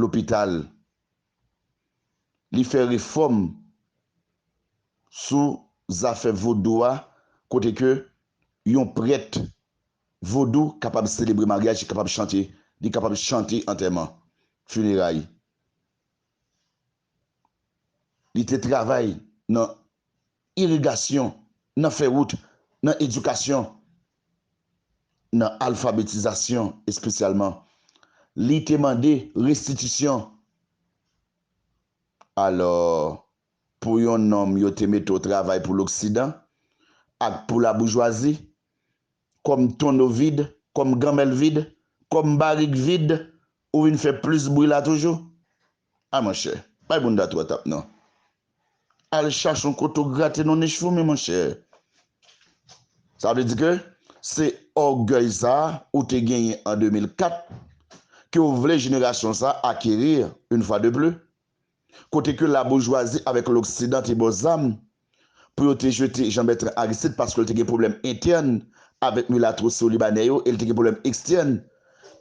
lopital, li fè refòm sou zafè vodou a kote ke yon prèt vodou kapab selebre maryaj, li kapab chante, li kapab chante antèman, fineray. Li te travay nan irigasyon, nan fè wout, nan edikasyon, nan alfabetizasyon espesyalman. Li te mande restitisyon. Alò, pou yon nonm yo te mete w travay pou loksidan ak pou laboujwazi, kòm tonneau vide, kòm gamèl vide, kòm barik vide, ou vin fè plis bri la toujou? Ah monchè, bay bounda twa tap non. Al chache yon kote w grate non nich foumi monchè. Sa vle di ke se ògèy sa ou te genyen an 2004 ke w vle jenerasyon sa acquérir une fois de plus? Kote ke laboujwazi avèk loksidan te ba w zam pou yo te jete Jean-Bertrand Aristide paske l te gen pwoblèm entèn avèk milatwo Siwolibanè yo e l te gen pwoblèm ekstèn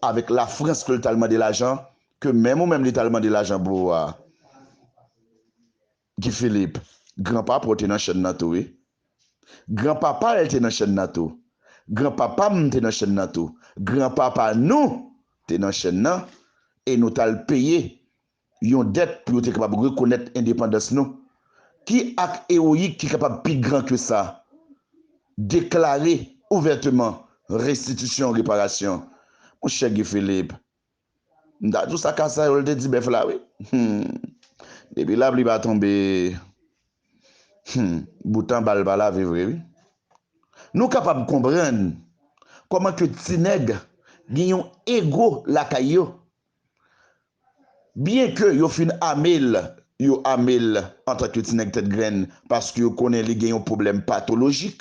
avèk Lafrans ke l t al mande lajan ke menm ou menm li t al mande lajan pou ou a Guy Philippe. Gran papa w te nan chèn nan tou wi. Gran papa l te nan chèn nan tou. Gran papa m te nan chèn nan tou. Gran papa nou te nan chèn nan e nou t al peye Yon dèt pou yo te kapab rekonèt endepandans nou. Ki ak ewoyik ki kapab pi gran ke sa? Deklare ouvèteman restitisyon, reparasyon. Mon chè Guy Philippe, m ta di w sa Kasayol te di bèf la wi. Hum! Depi lapli pa tonbe, hum! Bout anba l pa lave vre wi. Nou kapab konprann kòman ke ti nèg gen yon ego lakay yo. Byen ke yo fin ame l, yo ame l antan ke ti nèg tèt grenn paske yo konnen li gen yon pwoblèm patolojik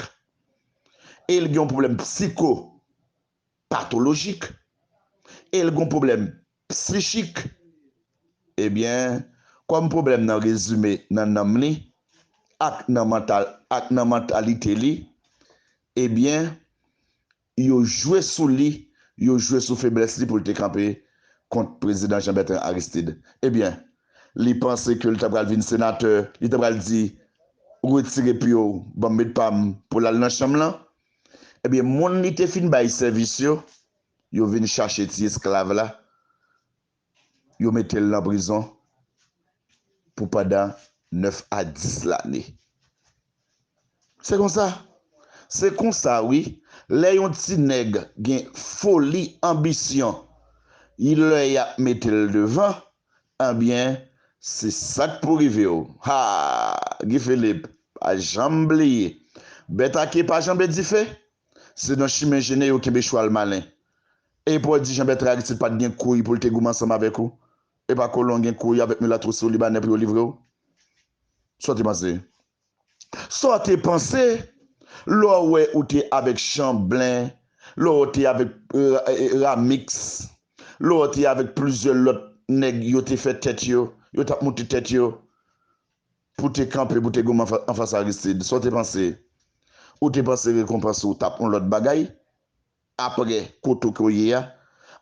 e l gen yon pwoblèm psikopatolojik e l gen yon pwoblèm psichik. Ebyen, kòm pwoblèm nan rezime nan nanm li ak nan mantal ak nan mantalite li, ebyen, Yo jwe sou li, yo jwe sou feblès li pou l te kanpe kont Prezidan Jean Bertrand Aristide. Ebyen, li panse ke l ta pral vin senatè, li ta pral di, Retire pye w, ban m met pa m, pou l al nan chanm lan. Ebyen, moun li te fin bay sèvis yo, yo vin chache ti esklav la, Yo mete l nan prizon pou pandan 9 a 10 lane. Se konsa. Se konsa wi, lè yon ti nèg gen foli, anbisyon, y lè y ap mete l devan, anbyen se sa k pou rive w. Ha! Guy Philippe, pa janm bliye, bèt a ke pa janbe dife, se nan chimen jene yo kenbe chwal malen. E Pòl di Janbètran Aristid pa t gen kouy pou l te goumen ansanm avèk ou? E pa kolon gen kouy avèk milat twou si w Libanè pou yo livre w? Sa w te panse? Sa w te panse lè w wè ou te avèk Chanblen, lè w te avèk Ramix, lè w te avèk plizyè lòt nèg yo te fè tèt yo, yo t ap moute tèt yo pou te kanpe pou te goumen anfas Aristid? Sa w te panse? Ou te panse rekonpans ou t ap yon lòt bagay? Apre kote w ko ye a.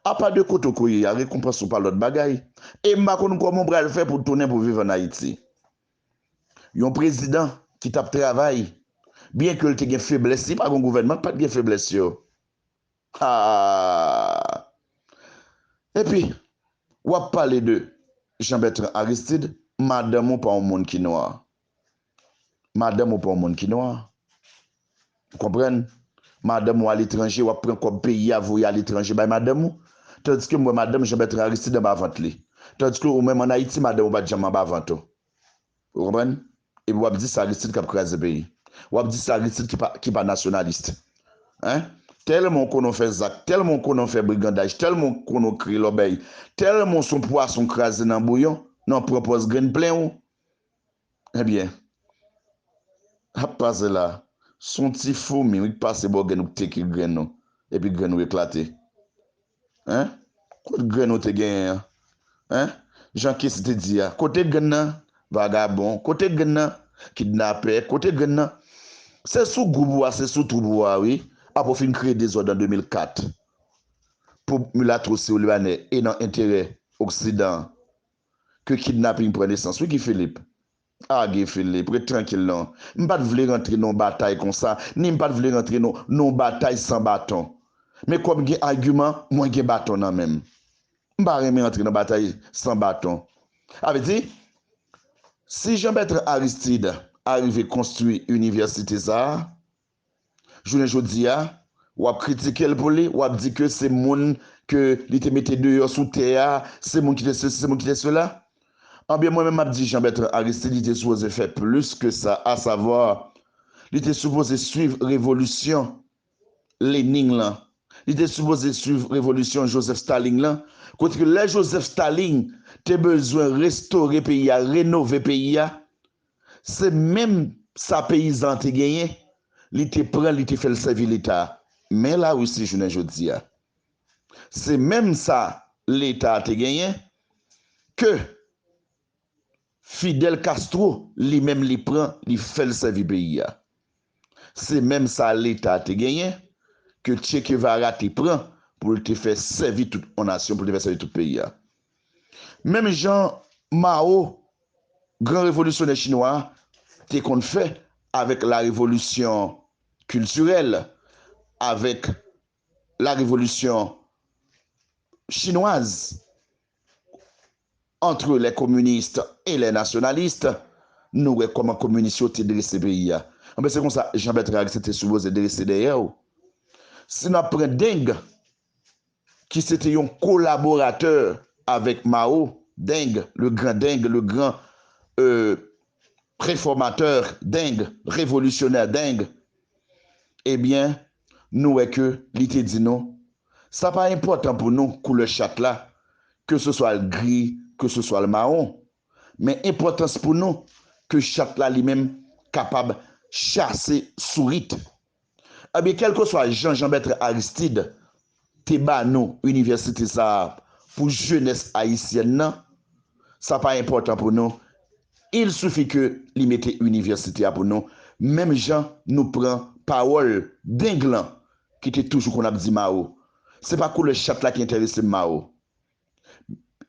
Apa de kote w ko ye a, rekonpans ou pa lòt bagay. E m pa konn kòman w pral fè pou tounen pou viv an Ayiti. Yon prezidan ki t ap travay, byen ke l te gen feblès, si pa gen yon gouvènman k pa t gen feblès yo. Haa! Epi, w ap pale de Jean-Bertrand Aristide, madanm ou pa yon moun ki nwa. Madanm ou pa yon moun ki nwa. Ou konprann? Madanm ou aletranje, w ap pran kòb peyi a voye aletranje bay madanm ou. Tandiske m wè madanm Janbètran Aristid anba vant li. Tandiske ou menm an Ayiti madanm ou pa t janm anba vant ou. Ou konprann? Epi w ap di se Aristid k ap kraze peyi. W ap di se Aristid ki pa nasyonalist. Hein? Tèlman ou konnen w fè zak, tèlman ou konnen w fè brigandaj, tèlman ou konnen w kreye lòbèy, tèlman ou s on pwason kraze nan bouyon, nan w pran pòz grenn plen ou. Ebyen Hap pase la Son ti foumi wi k pase bò gèn ou k teke grenn ou epi grenn ou eklate hein kot grenn ou te genyen an hein jan kessy te di a kote grenn nan vagabon kote grenn nan kidnapè kote grenn nan se sou group ou a se sou troup ou a wi apre ou fin kreye dezòd an 2004 pou milatro sirlyanè e nan enterè oksidan ke kidnapping pran nesans wi Guy Philippe. Ah Guy Philippe, ret trankil non. M pat vle rantre nan yon batay konsa, ni m pat vle rantre nan yon batay san baton. Men kòm gen agiman, mwen gen baton nan menm. M pa renmen antre nan batay san baton. A vle di, si Jean Bertrand Aristide arive konstwi inivèsite sa a, Jounen jodi a, w ap kritike l pou li, w ap di ke se moun ke li te mete deyò sou tè a, se moun ki te sesi, se moun ki te sela. Anben, mwen menm m ap di Jean Bertrand Aristide li te sipoze fè plis ke sa, a savwa, li te sipoze swiv revolisyon Lening lan, li te sipoze swiv revolisyon Joseph Staling lan, kote ke lè Joseph Staling te bezwen restore peyi a, renove peyi a, Se menm sa peyizan an te genyen, li te pran l, li te fè l sèvi Leta. Men Larisi jounen jodi a, se menm sa Leta a te genyen ke Fidel Castro li menm li pran, li fè l sèvi peyi a. Se menm sa leta te genyen, ke Che Kevara te pran pou l te fè sèvi tout on nasyon, pou l te fè sèvi tout peyi a. Menm jan Mao, gran revolisyonè chinwa a, te konn fè avèk la revolisyon kiltirèl, avèk la revolisyon chinwaz antre lè kominist e lè nasyonalist nou wè kòman kominis yo te drese peyi a anben se konsa Jean Bertrand Aristide te sipoze drese dèyè yo si nou ap pran Deng ki se te yon kolaboratè avèk Mao Deng le gran Deng le gran euh refòmatè Deng revolisyonè Deng. Ebyen, nou wè ke li te di nou, Sa pa enpòtan pou nou koulè chat la, ke se swa l gri, ke se swa l mawon. Men enpòtans pou nou ke chat la li menm kapab chase sourit. Ebyen, kèlkeswa jan Janbètran Aristid te ba nou inivèsite sa a pou jenès ayisyèn nan, sa pa enpòtan pou nou, il suffit ke li mete inivèsite a pou nou, menm jan nou pran pawòl deng lan ki te toujou konn ap di Mao, se pa koulè chat la ki enterese m Mao.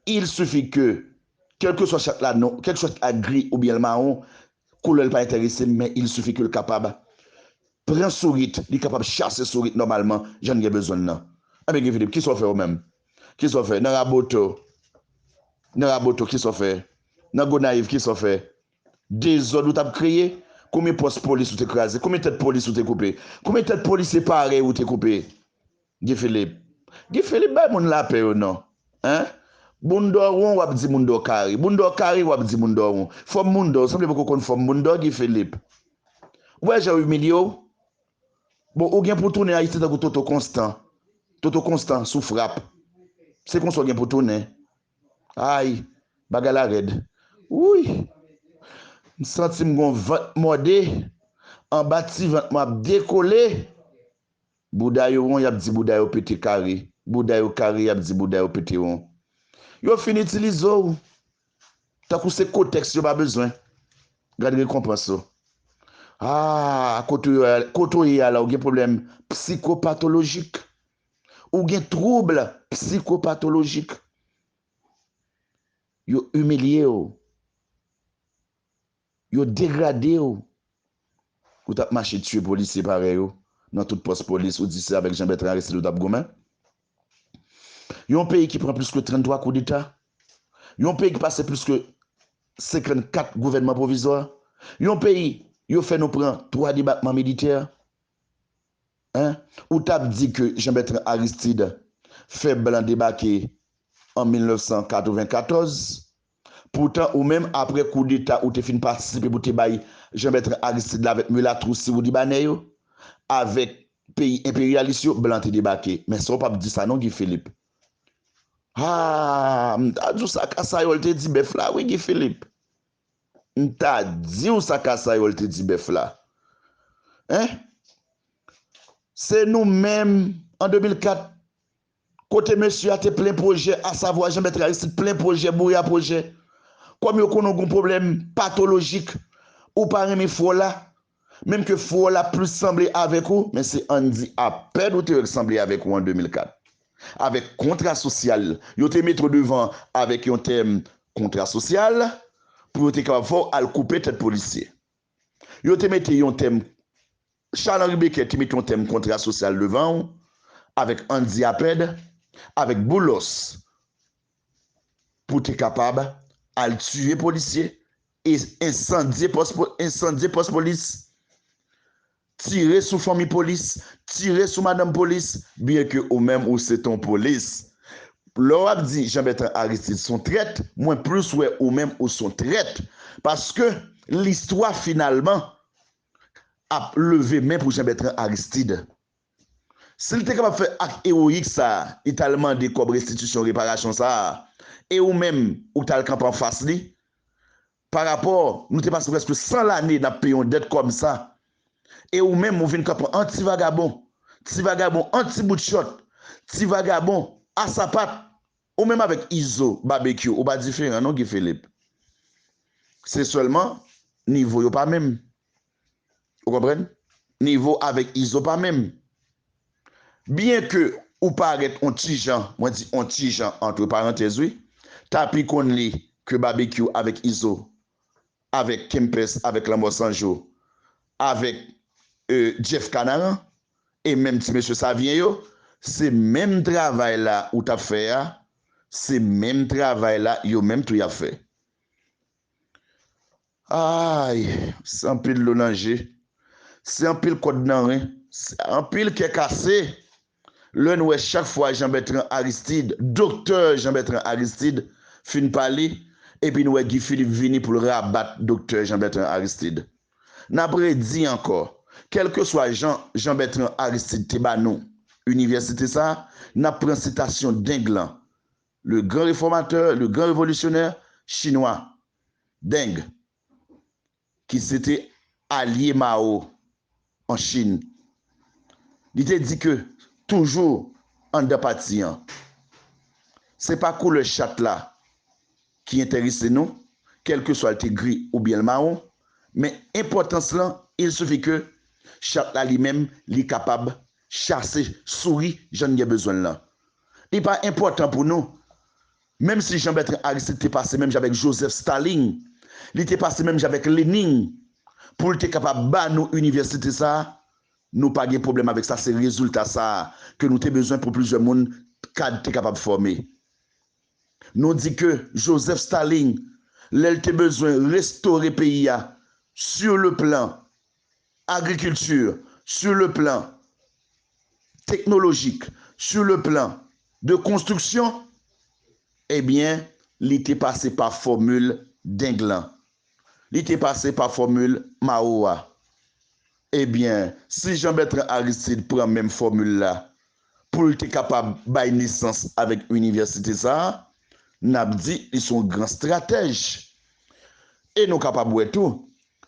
Il suffit que kèlkeswa chat la non, kèlkeswa chat la gri oubyen l mawon, koulè l pa entèrese m men il suffit que l kapab pran sourit, li kapab chase sourit nòmalman jan n gen bezwen l nan. Enben Guy Philippe, kisa w fè ou menm? Kisa w fè nan Raboto? Nan Raboto kisa w fè? Nan Gonayiv kisa w fè? Dezòd ou t ap kreye? Konbyen pòs polis ou te kraze? Konbyen tèt polis ou te koupe? Konbyen tèt polisye parèy ou te koupe? Guy Philippe Guy Philippe bay moun lapè yo non hein boun dò won wap di moun dò kare boun dò kare wap di moun dò won fòm moun dò ou sanble poko konn fòm moun dò Guy Philippe ou wè jan yo imilye w bon ou gen pou tounen ayiti tankou Toto konstan Toto konstan sou frap se konsa w gen pou tounen ayy bagay la rèd wouyy m santi m gon vant mòde anba ti vant mwen ap dekole Bouda yo won yap di bouda yo pete kare bouda yo kare yap di bouda yo pete won yo fin itilize w tankou se kotèks yo pa bezwen gad rekonpans ou aah kote w ye a la ou gen pwoblèm psikopatolojik ou gen trouble psikopatolojik yo imilye w. Yo degrade w. Ou tap mache tiye polisye parèy ou nan tout pòs polis ou di se avèk Jean Bertrand Aristide ou tap goumen. Yon peyi ki pran plis ke 33 koudeta. Yon peyi ki pase plis ke 54 gouvènman pwovizwa. Yon peyi yo fè nou pran 3 debakman militè. Hein? Ou tap di ke Jean Bertrand Aristide fè blan debake an 1994 Poutan ou menm aprè kou deta ou te fin patisipe pou te bay Jean Bertrand Aristide la avèk milat ou siw libanè yo, avèk peyi enperyalis yo blan te debake. Men sa ou pap di sa non Guy Philippe. Haa m ta di w sa kasayòl te di bèf la wi Guy Philippe. M ta di w sa kasayòl te di bèf la. Hein! Se nou menm an 2004 Kote mesye a te plen pwojè asavwa Janmèt Aristid plen pwojè bouya pwojè. Kòm yo konnen w gon pwoblèm patolojik, ou pa renmen fwò la, menm ke fwò la plis sanble avèk ou, men se ann di apèn ou te wè l sanble avèk ou an 2004, avèk kontra sosyal yo te mete w devan avèk yon tèm kontra sosyal pou yo te kapab fè w al koupe tèt polisye. Yo te mete yon tèm Charles Henri Becquet te mete yon tèm kontra sosyal devan ou avèk Andy Apèd, avèk Boulos pou te kapab al tiye polisye e ensandye pòs polis. Tire sou fanmi polis, tire sou madanm polis, byen ke ou menm ou se ton polis. Lè w ap di Jean Bertrand Aristide son trèt, mwen plis wè ou menm ou son trèt. Paske listwa finalman ap leve men pou Jean Bertrand Aristide. Si l te kapab fè ak ewoyik sa a, li t al mande kòb restitisyon reparasyon sa a, e ou menm ou t al kanpe anfas li, Pa rapò, nou te pase prèske 100 lane nap peye yon dèt kòm sa, e ou menm ou vin kanpe an ti vagabon, ti vagabon an ti bout chòt, ti vagabon a sapat, ou menm avèk Izo, Babekyou ou pa diferan non Guy Philippe. Se sèlman nivo yo pa menm. Ou konprann? Nivo avèk Izo pa menm. Byen ke ou parèt yon ti jan, mwen di yon ti jan antre parantèz wi, Tapi konn li ke Babekyou avèk Izo, avèk Kempès, avèk Lanmò San Jou, avèk Jeff Kanaran, e menm ti mesye Savyen yo, se menm travay la ou tap fè a, se menm travay la yo menm tou yap fè. Aayy! Se anpil dlo nan je. Se anpil kòd nan ren. Se anpil kè kase. Lè n wè chak fwa Jean-Bertrand Aristide, Doktè Jean-Bertrand Aristide, fin pale, epi n wè Guy Philippe vini pou l rabat Doktè Jean-Bertrand Aristide. N ap redi ankò, kèlkeswa jan Jean-Bertrand Aristide te ba nou Inivèsite sa, n ap pran sitasyon deng lan Le grand reformateur, le grand révolutionnaire chinwa Deng ki se te alye Mao an Chin, li te di ke toujou anndan pati an, se pa koulè chat la ki enterese nou, kèlkeswa l te gri oubyen l mawon, men enpòtans lan, il suffit ke chat la li menm li kapab Chase souri jan n gen bezwen l lan. Li pa enpòtan pou nou. Menm si Jean-Bertrand Aristide te pase menm jan avèk Joseph Stalin, li te pase menm jan avèk Lenin pou l te kapab ba nou inivèsite sa a, nou pa gen pwoblèm avèk sa, se rezilta sa a ke nou te bezwen pou plizyè moun kad te kapab fòme. Nou di ke Joseph Stalin, lè l te bezwen restore peyi a sur le plan agriculture, sur le plan technologique, sur le plan de construction, ebyen li te pase pa fòmil deng lan, li te pase pa fòmil Mao a. Ebyen, si Jean-Bertrand Aristide pran menm fòmil la, pou l te kapab bay nesans avèk inivèsite sa a, n ap di li se yon gran stratèj. E nou kapab wè tou,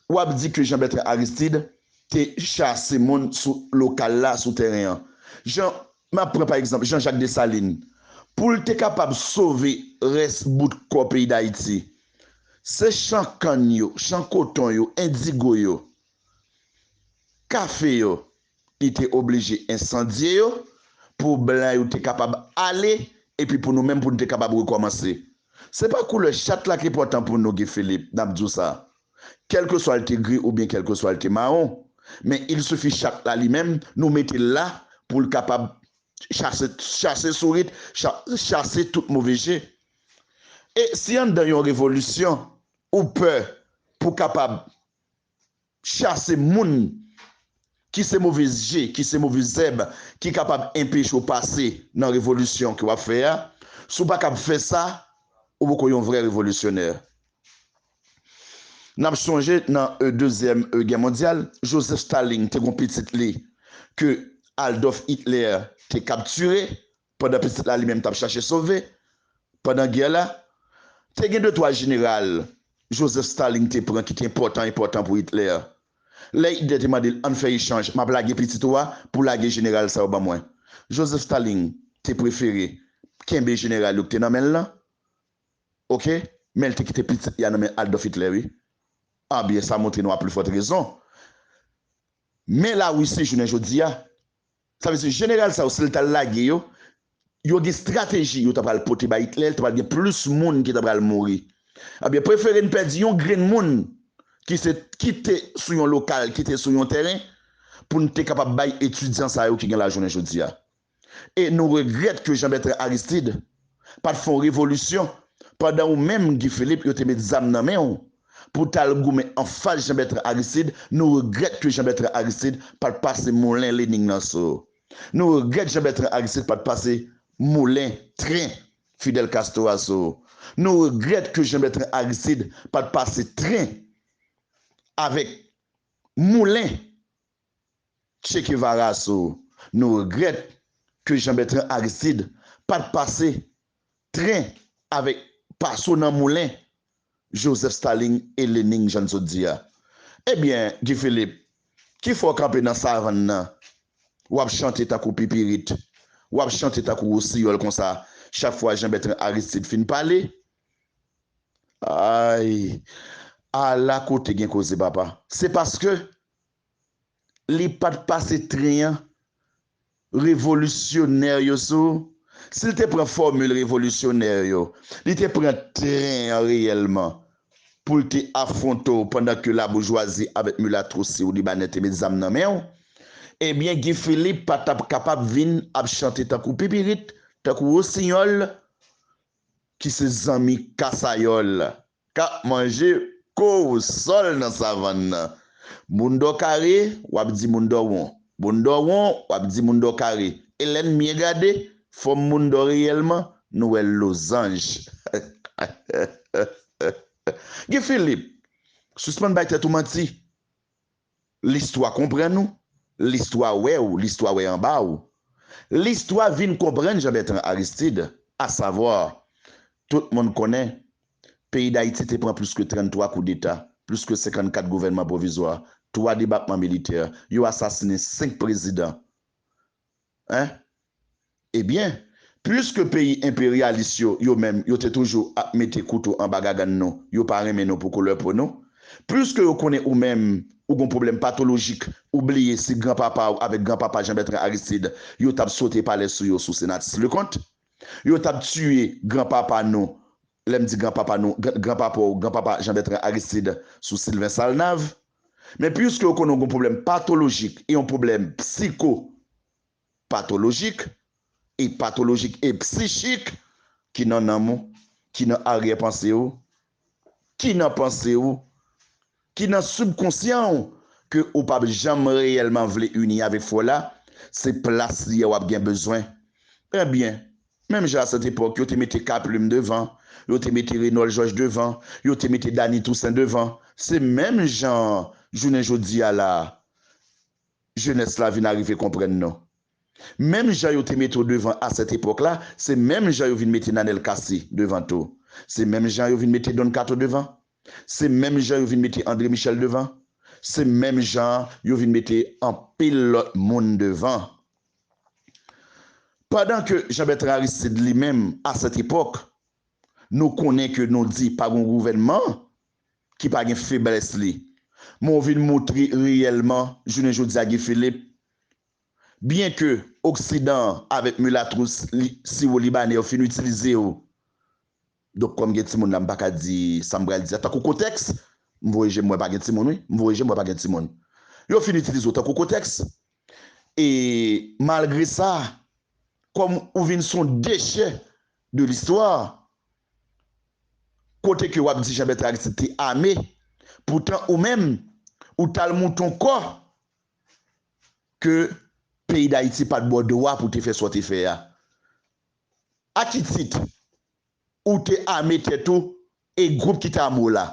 w ap di ke Jean-Bertrand Aristide te chase moun sou lokal la, sou tèren an. Jan, m ap pran pa egzanp, Jean-Jacques Dessalines, pou l te kapab sove rès bout kò peyi Dayiti, se chan kann yo, chan koton yo, endigo yo, kafe yo, Li te oblije ensandye yo pou blan yo te kapab ale epi pou nou menm pou nou te kapab rekòmanse. Se pa koulè chat la ki enpòtan pou nou, Guy Philippe, n ap di w sa. Kèlkeswa l te gri oubyen kèlkeswa l te mawon, men il sifi chat la li menm nou mete l la pou l kapab chase, chase sourit, chase tout move je. E si anndan yon revolisyon ou pè pou kapab chase moun ki se move je, ki se move zèb ki kapab enpeche w pase nan revolisyon ke w ap fè a. Si w pa kab fè sa, ou poko yon vrè revolisyonè. N ap sonje nan Dezyèm Gè Mondyal, Joseph Stalin te gen yon pitit li ke Aldolf Hitler te kaptire pandan pitit la li menm tap chache sove pandan gè la. Te gen de twa jeneral Joseph Stalin te pran ki te enpòtan enpòtan pou Hitler. Lè Hitler te mande l ann fè echanj map lage pitit ou a pou lage jeneral sa yo ban mwen. Joseph Stalin te prefere kenbe jeneral yo ki te nan men l lan ok men l te kite pitit li a nan men Adolf Hitler wi. Ah byen sa montre nou a pli fòt rezon men Larisi jounen jodi a Sa vle di jeneral sa yo si l ta lage yo, yo gen strateji yo ta pral pote bay Itlè, li ta pral gen plis moun ki ta pral mouri. Ebyen prefere n pèdi yon grenn moun ki se ki te sou yon lokal, ki te sou yon tèren pou n te kapab bay etidyan sa yo ki gen la jounen jodi a. E nou regrèt ke Jean Bertrand Aristide pat fon revolisyon pandan ou menm Guy Philippe yo te met zam nan menw pou tal goumen anfas Jean Bertrand Aristide nou regrèt ke Jean Bertrand Aristide pat pase moulen Lening nan sou ou nou regrèt Jean Bertrand Aristide pat pase moulen tren Fidel Castro a sou ou nou regrèt ke Jean Bertrand Aristide pat pase tren avèk moulen Che Kevara sou Nou regrèt ke Jean Bertrand Aristide pat pase tren avèk Paso nan moulen Joseph Staling e Lening jan n sot di a Ebyen Guy Philippe ki fè w kanpe nan savann nan w ap chante tankou pipirit w ap chante tankou wosiyòl konsa chak fwa Jean Bertrand Aristide fin pale Ayy Ala kote gen koze papa Se paske li pa t pase tren an revolisyonè yo sou si l te pran fòmil revolisyonè yo li te pran tren an reyèlman pou l te afwonte w pandan ke laboujwazi avèk milatro siw libanè te met zam nan men w ebyen Guy Philippe pa t ap kapab vin ap chante tankou pipirit tankou wosinyòl ki se zanmi kasayòl. K ap manje kowosòl nan savann nan. Moun dò kare, w ap di moun dò won. Moun dò won, w ap di moun dò kare. E lè n byen gade, fòm moun dò reyèlman, nou wè l lozanj. Guy Philippe, sispann bay tèt ou manti. Listwa konprann ou, listwa wè ou, listwa wè anba ou. Listwa vin konprann Jean-Bertrand Aristide, à savoir, tout moun konnen, peyi Dayiti te pran plis ke 33 koudeta, plis ke 54 gouvènman pwovizwa, 3 debakman militè, yo asasinen 5 prezidan. Hein? Ebyen, puiske peyi enperyalis yo, yo menm, yo te toujou ap mete kouto anba gagann nou, yo pa renmen nou pou koulè po nou, puiske yo konnen ou menm, ou gon pwoblèm patolojik, ou bliye si gran papa ou avèk gran papa Jean-Bertrand Aristide, yo t ap sote palè sou yo sou Senatus Leconte? Yo t ap tiye gran papa nou Lè m di gran papa nou, gran papa w, gran papa Jean Bertrand Aristide sou Sylvain Salnave. Men puiske yo konnen w gen yon pwoblèm patolojik e yon pwoblèm psiko patolojik e patolojik e psichik ki nan nanm ou, ki nan aryè panse ou, ki nan panse ou, ki nan sibkonsyan w ke ou pap janm reyèlman vle ini avèk frè w la, se plas li a wap gen bezwen. Ebyen, menm jan asètepòk yo te mete K Plim devan, yo te mete Renòl Jòj devan, yo te mete Dani Tousen devan, se menm jan an jounen jodi a la a, jenès la vin arive konprann nou. Menm jan yo te mete w devan asètepòk la, se menm jan yo vin mete Nanel Cassy devan tou. Se menm jan yo vin mete Don Kato devan. Se menm jan yo vin mete Andre Michel devan, se menm jan yo vin mete anpil lòt moun devan. Pandan ke Jean Bertrand Aristide li menm a sèt epòk, nou konnen ke nou di pa gon gouvènman ki pa gen feblès li. Men w vin moutre reyèlman jounen jodi a Guy Philippe, byen ke oksidan an avèk milatrous li siwo libanè yo fin itilize w, Donk kòm gen timoun la m pa ka di sa m pral di a tankou kotèks M voye je m wè pa gen timoun wi M voye je m wè pa gen timoun Yo fin itilize w tankou kotèks E malgre sa kòm ou vin s on dechè de listwa Kote ke w ap di Janbèt Aristid te ame poutan ou menm ou t al mouton kò ke peyi Dayiti pa t ba w dwa pou w te fè sa w te fè a A ki tit ou te ame tèt ou e gwoup ki te ame w la,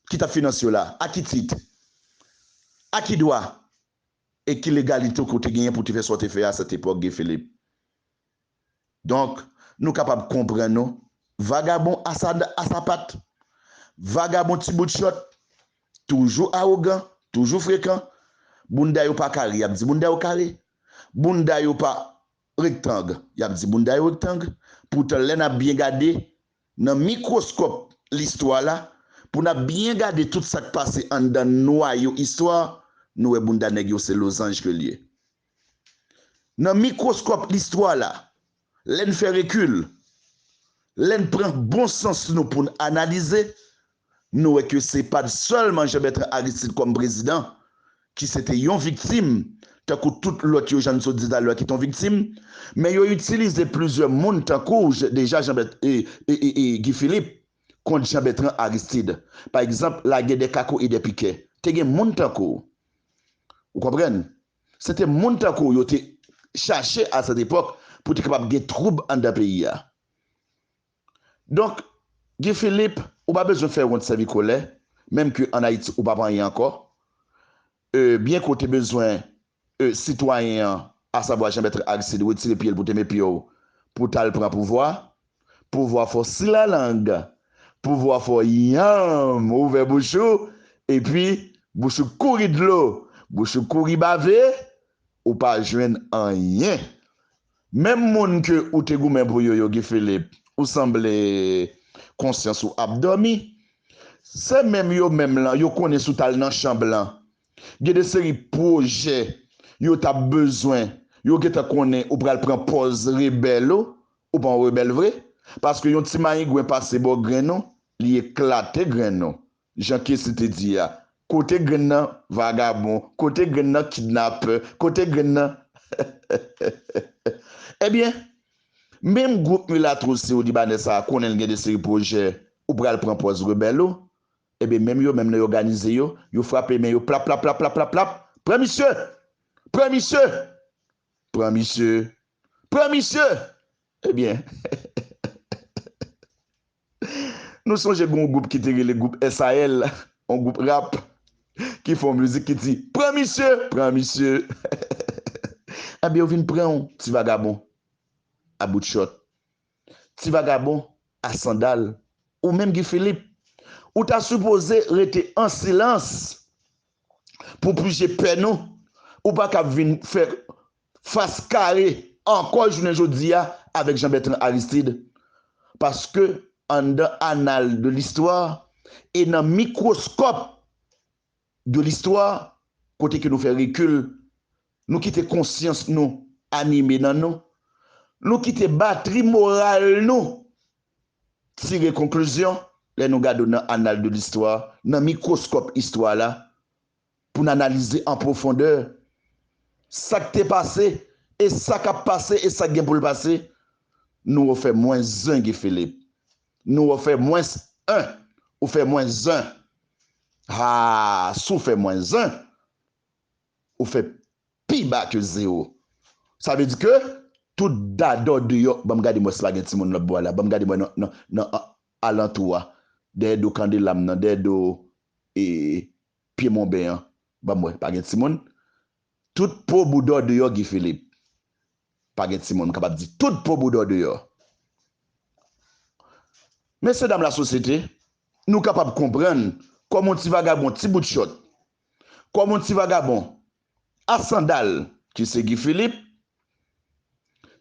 ki t ap finanse yo la? A ki tit? A ki dwa? E ki legalite ou ke w te genyen pou w te fè sa w te fè a cette époque, Guy Philippe? Donk, nou kapab konprann ou, vagabon a sa dan a sapat, vagabon ti bout chòt, toujou awogan, toujou frekan, bounda yo pa kare y ap di bounda yo kare, bounda yo pa. Rektang, y ap di bounda yo rektang, poutan lè n ap byen gade nan mikwoskòp listwa la, pou n ap byen gade tout sa k pase anndan nwayo istwa, nou wè bounda nèg yo se lozanj ke l ye. Nan mikwoskòp listwa la, lè n fè rekil, lè n pran bon sans nou pou n analize, Nou wè ke se pat sèlman Jean Bertrand Aristide kòm prezidan ki se te yon viktim, tankou tout lòt yo jan n sot di talè a ki te yon viktim, men yo itilize plizyè moun tankou deja Jean Guy Philippe kont Jean Bertrand Aristide. Pa egzanp, lagè dè kako e dè pikè, te gen moun tankou ou konprann, se te moun tankou yo te chache a sèt epòk pou te kapab gen twoub anndan peyi a. Donk Guy Philippe ou pa bezwen fè ront sèvi kolè menm ke an Ayiti ou pap anyen ankò e byen ke w te bezwen e sitwayen an asavwa Jean Bertrand Aristide retire pye l pou te me pye w pou w tal pran pouvwa pouvwa fò si la lang pouvwa fò yanm ouvè bouch ou epi bouch ou kouri dlo bouch ou kouri bave ou pa jwenn anyen Menm moun ke ou te goumen pou yo yo Guy Philippe ou sanble konsyans ou ap dòmi se menm yo menm lan yo konnen si w tal nan chanb lan gen de seri pwojè yo tap bezwen yo gentan konnen ou pral pran pòz rebèl ou ou pa yon rebèl vre paske yon ti mayingwen pase bò grenn ou li eklate grenn ou Jan Kessy te di a, kote grenn nan vagabon, kote grenn nan kidnapè, kote grenn nan hehehehe. Ebyen, menm gwoup milato siwolibanè sa a konnen l gen de seri pwojè ou pral pran pòz rebèl ou, ebyen menm yo menm nan y òganize yo, yo frape men yo plaplaplaplaplaplap, pran misye! Pran misye! Pran misye! Pran misye! Ebyen hehehehehehe. Nou sonje gen yon gwoup ki te rele gwoup SAL, yon gwoup rap, ki fè yon mizik ki di, Pran misye! Pran misye! Enben yo vin pran w, ti vagabon a bout chòt, ti vagabon a sandal. Ou menm Guy Philippe, ou ta sipoze rete an silans pou pije pè nou. Ou pa kab vin fè fas kare ankò jounen jodi a avèk Jean Bertrand Aristide paske anndan annal de listwa e nan mikwoskòp de listwa kote ke nou fè rekil, nou kite konsyans nou anime nan nou, nou kite batri moral nou tire konklizyon lè nou gade w nan annal de listwa, nan mikwoskòp istwa la. pou n analize an pwofondè sa k te pase e sa k ap pase e sa k gen pou l pase, nou refè mwens zen Guy Philippe. Nou refè mwens en. Ou fè mwens zen. Haa si w fè mwens zen, ou fè pi ba ke zewo. Sa vle di ke tout dadò deyò, ban m gade mwens la gen timoun lòtbò a la, ban m gade mwen nan alantou a, dèyè do Kandela m nan, dèyè do e. Pye monben an banm wè pa gen timoun tout po boudaw deyò Guy Philippe pa gen timoun m kapab di tout po boudaw deyò mesye dam lasosyete nou kapab konprann kòm yon ti vagabon ti bout chòt kòm yon ti vagabon a sandal ki se Guy Philippe.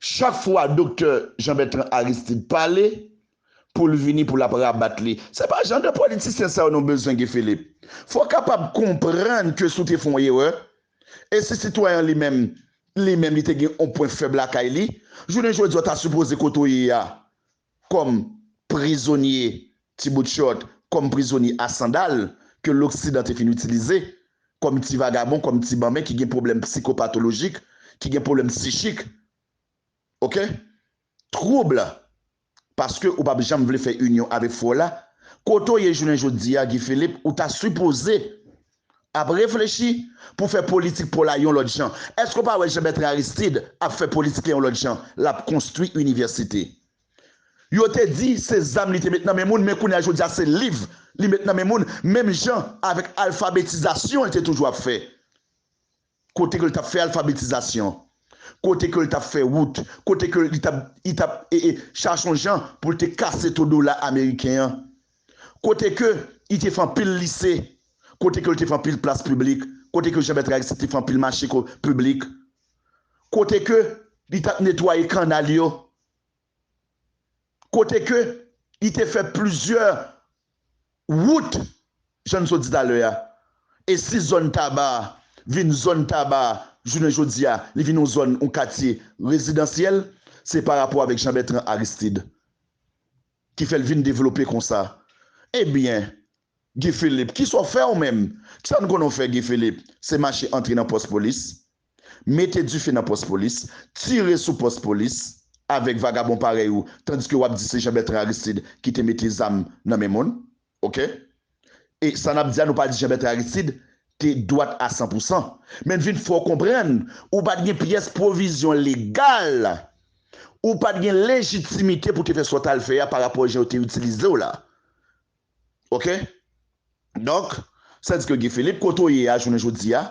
Chak fwa doktè Jean Bertrand Aristide pale pou l vini pou l ap rabat li. Se pa jan de politisyen sa yo nou bezwen Guy Philippe. Fò w kapab konprann ke si w te fè yon erè, e si sitwayen an li menm, li menm li te gen yon pwen fèb lakay li, jounen jodi a w ta sipoze kote w ye a kòm prizonye ti bout chòt, kòm prizonye a sandal ke loksidan te fin itilize, kòm ti vagabon, kòm ti banben ki gen pwoblèm psikopatolojik, ki gen pwoblèm psichik. Ok? Twoub la. Paske ou pap janm vle fè inyon avèk fwa w la. Kote w ye jounen jodi a Guy Philippe, ou ta sipoze. Ap reflechi pou fè politik po la yon lòt jan. Èske ou pa wè Jean Bertrand Aristide ap fè politik la yon lòt jan, lap konstwi inivèsite. Yo te di se zam li te met nan men moun men kounye a jodi a se liv li met nan men moun menm jan avèk alfabetizasyon li te toujou ap fè. kote ke l t ap fè alfabetizasyon, kote ke l t ap fè wout, kote ke li t ap, li t ap e, e chache yon jan pou l te kase to dola ameriken an, kote ke li te fè anpil lise, kote ke l te fè anpil plas piblik, kote ke Jean-Bertrand Aristide te fè anpil mache ko, piblik, kote ke li t ap netwaye kannal yo, kote ke li te fè plizyè wout jan n sot di talè a, e si zòn Taba a vin zòn Taba a jounen jodi a li vin yon zòn yon katye rezidansyèl se pa rapò avèk Jean Bertrand Aristide ki fè l vin devlope konsa ebyen Guy Philippe, kisa w fè ou menm? Kisa n konnen w fè Guy Philippe? Se mache antre nan pòs polis, mete dife nan pòs polis, tire sou pòs polis avèk vagabon parèy ou tandiske w ap di se Jean Bertrand Aristide ki te mete zam nan men moun. Ok. E sa n ap di a nou pa di Jean Bertrand Aristide te dwat a san pou san. Men n vin fè w konprann ou pa t gen pyès pwovizyon legal, ou pa t gen lejitimite pou w te fè sa w t al fè a parapò jan yo te itilize w la. Ok donk sa di ke Guy Philippe kote w ye a jounen jodi a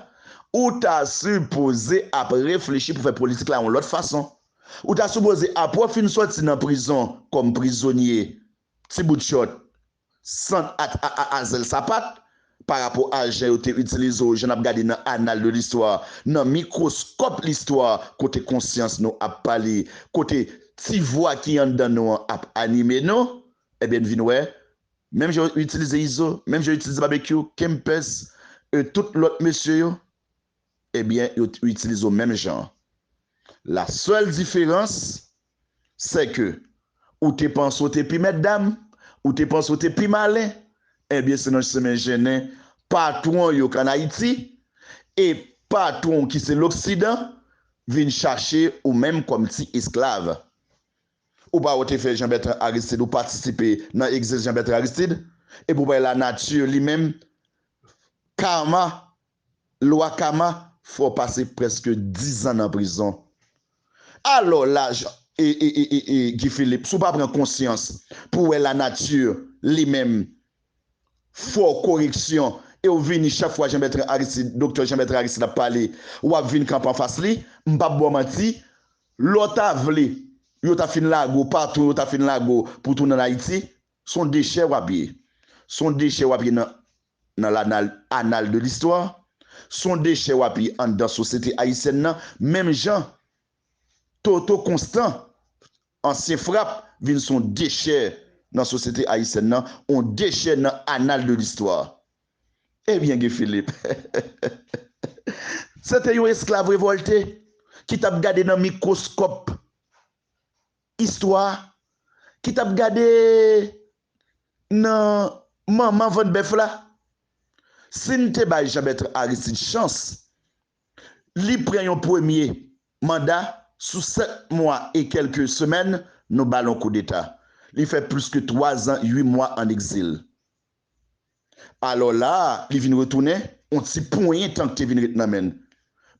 ou ta sipoze ap reflechi pou fè politik la yon lòt fason ou ta sipoze apre w fin sòti nan prizon kòm prizonye ti bout chòt sant ak a zèl sapat pa rapò a jan yo te itilize w jan n ap gade nan anal de listwa nan mikwoskòp listwa kote konsyans nou ap pale kote ti vwa ki anndan nou an ap anime nou. Ebyen n vin wè, menm jan yo itilize Izo, menm jan yo itilize Babekyou, Kempès e tout lòt mesye yo, ebyen yo itilize w menm jan. La sèl diferans, sè ke ou te panse w te pi mètdam, ou te panse w te pi malen, ebyen se nan chemen jennen patwon w yo k ann Ayiti e patwon w ki se loksidan vin chache ou menm kòm ti esklav. Ou pa wè te fè Jean Bertrand Aristide ou patisipe nan exist Jean Bertrand Aristide epi ou bay la nature li menm karma lwa kama fè w pase preske 10 ans nan prizon alò la Jean Guy Philippe si w pa pran konsyans pou wè la nature li menm Fo koreksyon e w vini chak fwa Jean Bertrand Aristide Doktè Jean Bertrand Aristide ap pale wap vin kanpe anfas li m pap baw manti lè w ta vle yo ta fin lage w patou yo ta fin lage w pou w tounen an Ayiti s on dechè wap ye s on dechè wap ye nan nan lanal anal de listwa s on dechè wap ye anndan sosyete ayisyèn nan menm jan Toto Constant Ansyen frap vin son dechè nan sosyete ayisyèn nan, on dechè nan anal de listwa. Ebyen Guy Philippe se te yon esklav revòlte ki t ap gade nan mikwoskòp istwa, ki t ap gade nan manman vant bèf la. Si n te bay Jean Bertrand Aristide chans. Li pran yon premye manda sou 7 mwa e kèlke semèn nou ba l yon koudeta. Li fè plis ke 3 zan 8 mwa an egzil. Alò la a, li vin retounen, yon ti ponyen tan k te vin ret nan men l.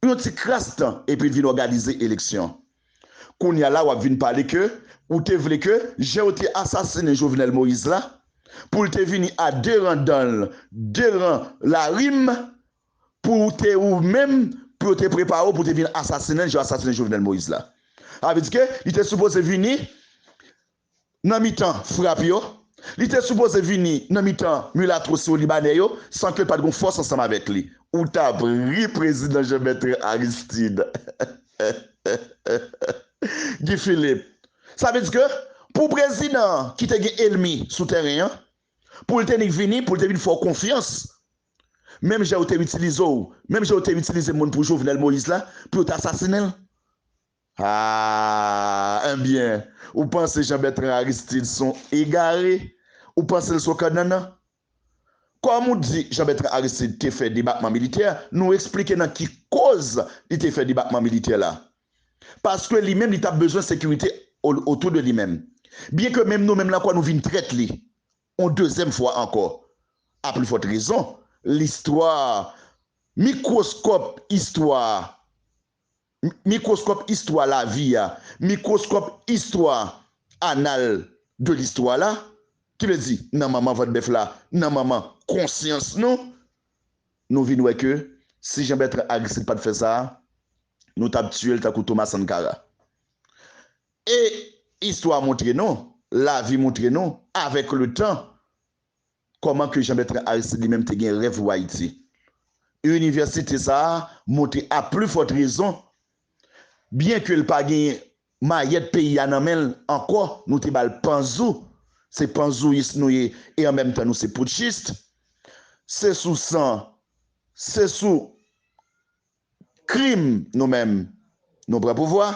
Yon ti kras tan epi l vin òganize eleksyon. Kounye a la w ap vin pale ke ou te vle ke jan yo te asasinen Jovenel Moïse la, pou l te vini a 2 ran dan l, 2 ran larim, pou ou te ou menm pou yo te prepare w pou te vin asasinen l jan yo asasinen Jovenel Moïse la. Sa vle di ke li te sipoze vini nan mitan frap yo, li te sipoze vini nan mitan milatro siwo libanè yo san ke pat gon fòs ansanm avèk li. Ou tap ri prezidan Jean Bertrand Aristide Guy Philippe. Sa vle di ke pou prezidan an ki te gen elmi sou tèren an, Pou l te nik vini, pou l te vin fè w konfyans, menm jan yo te itilize w, menm jan yo te itilize moun pou Jovenel Moïse la, pou yo te asasinen l? Aah! Enbyen, ou panse Jean Bertrand Aristide s on egare? Ou panse l s on kannannan? Kòm ou di Jean Bertrand Aristide te fè debakman militè, nou eksplike nan ki koz li te fè debakman militè la. paske li menm li tap bezwen sekirite otou de li menm, byen ke menm nou menm la kwa nou vin trèt li yon dezyèm fwa ankò, a pli fòt rezon listwa mikwoskòp istwa mikwoskòp istwa lavi a mikwoskòp istwa anal de listwa la ki vle di nan manman vant bèf la nan manman konsyans nou nou vin wè ke si Jean Bertrand Aristide pat fè sa. nou tap tiyel tankou Thomas Sankara e istwa moutre nou lavi moutre nou avek le tan koman ke Jean Bertrand Aristide li menm te gen rev pou Ayiti e inivèsite sa moutre a pli fòt rezon byen ke l pa gen mayèt peyi a nan menl ankò nou te bal panzou se panzouyis nou ye e an menm tan nou se poutchist se sou san se sou. Krim nou menm nou pran pouvwa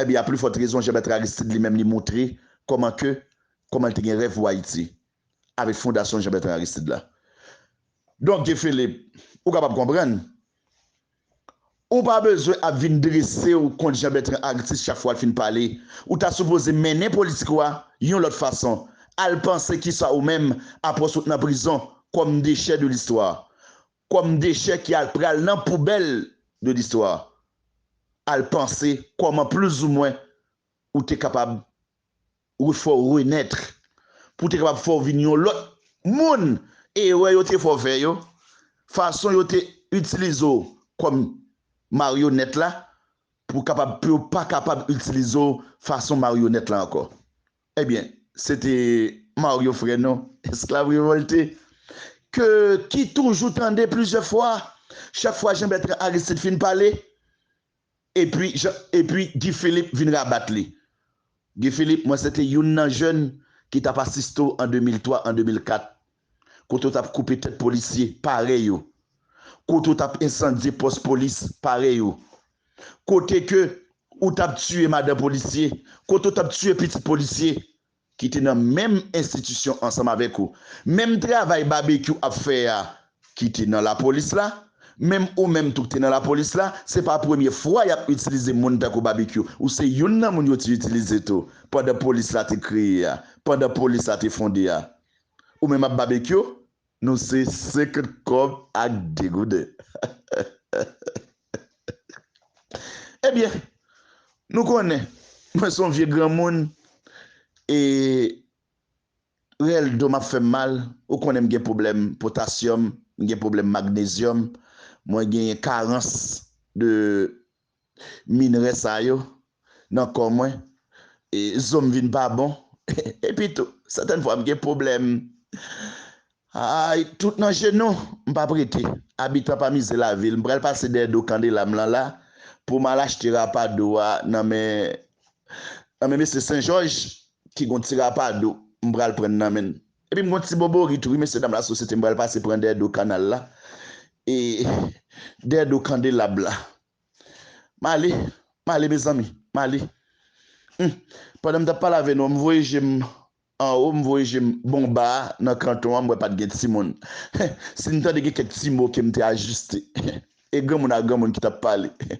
ebyen a pli fòt rezon Jean Bertrand Aristide li menm li moutre kòman ke kòman li te gen rèv pou Ayiti avèk fondasyon Jean Bertrand Aristide la. Donk Guy Philippe ou kapab konprann ou pa bezwen ap vin drese w kont Jean Bertrand Artiste chak fwa l fin pale ou ta sipoze mennen politik ou a yon lòt fason al panse kisa ou menm apwòs ou t nan prizon kòm dechè de listwa kòm dechè ki al pral nan poubèl de listwa, al panse kòman plizoumwen ou te kapab refè w renètre, pou te kapab fè w vin yon lòt moun, erè yo te fè w fè yo, fason yo te itilize w kòm maryonèt la, pou kapab pou yo pa kapab itilize w fason maryonèt la ankò. Ebyen se te Mario frè nou esklav revòlte ke ki toujou tande plizyè fwa chak fwa Jean Bertrand Aristide fin pale epi epi Guy Philippe vin rabat li Guy Philippe mwen se te youn nan jèn ki tap asiste w an 2003 an 2004 Kote w tap koupe tèt polisye parèy ou? Kote w tap ensandye pòs polis parèy ou? Kote ke ou tap tiye madan polisye? Kote w tap tiye pitit polisye ki te nan menm enstitisyon ansanm avèk ou? Menm travay Babekyou ap fè a ki te nan lapolis la, menm ou menm tou ki te nan lapolis la, se pa premye fwa yap itilize moun tankou Babekyou. Ou se youn nan moun yo te itilize tou pandan polis la te kreye a, pandan polis la te fonde a. Ou menm ap babekyou nou se 50 kòb ak 2 gouden ebyen nou konnen mwen son vye granmoun e rèl dom ap fèm mal ou konnen m gen pwoblèm potasyòm m gen pwoblèm magnezyòm mwen genyen karans de minrè sa yo nan kò mwen, zo m vin pa bon, epi tou sètèn fwa m gen pwoblèm tout nan jenou. M p ap rete abitan pa mize lavil, m pral pase dèyè do Kandela m lan la pou m al achte rapadou a nan men mesye Senjòj ki gon ti rapadou m pral pran nan men l. Epi m gon ti boborit wi mesye dam la sosyete m pral pase pran dèyè do kanal la e dèyè do kandelab la m ale m ale mezanmi m ale humm pandan m tap pale avè nou an m voye je m anwo m voye je m bon ba a nan kanton an m wè pat gen timoun heh si m tande gen kèk ti mo ke m te ajiste heh e granmoun a granmoun ki tap pale heh.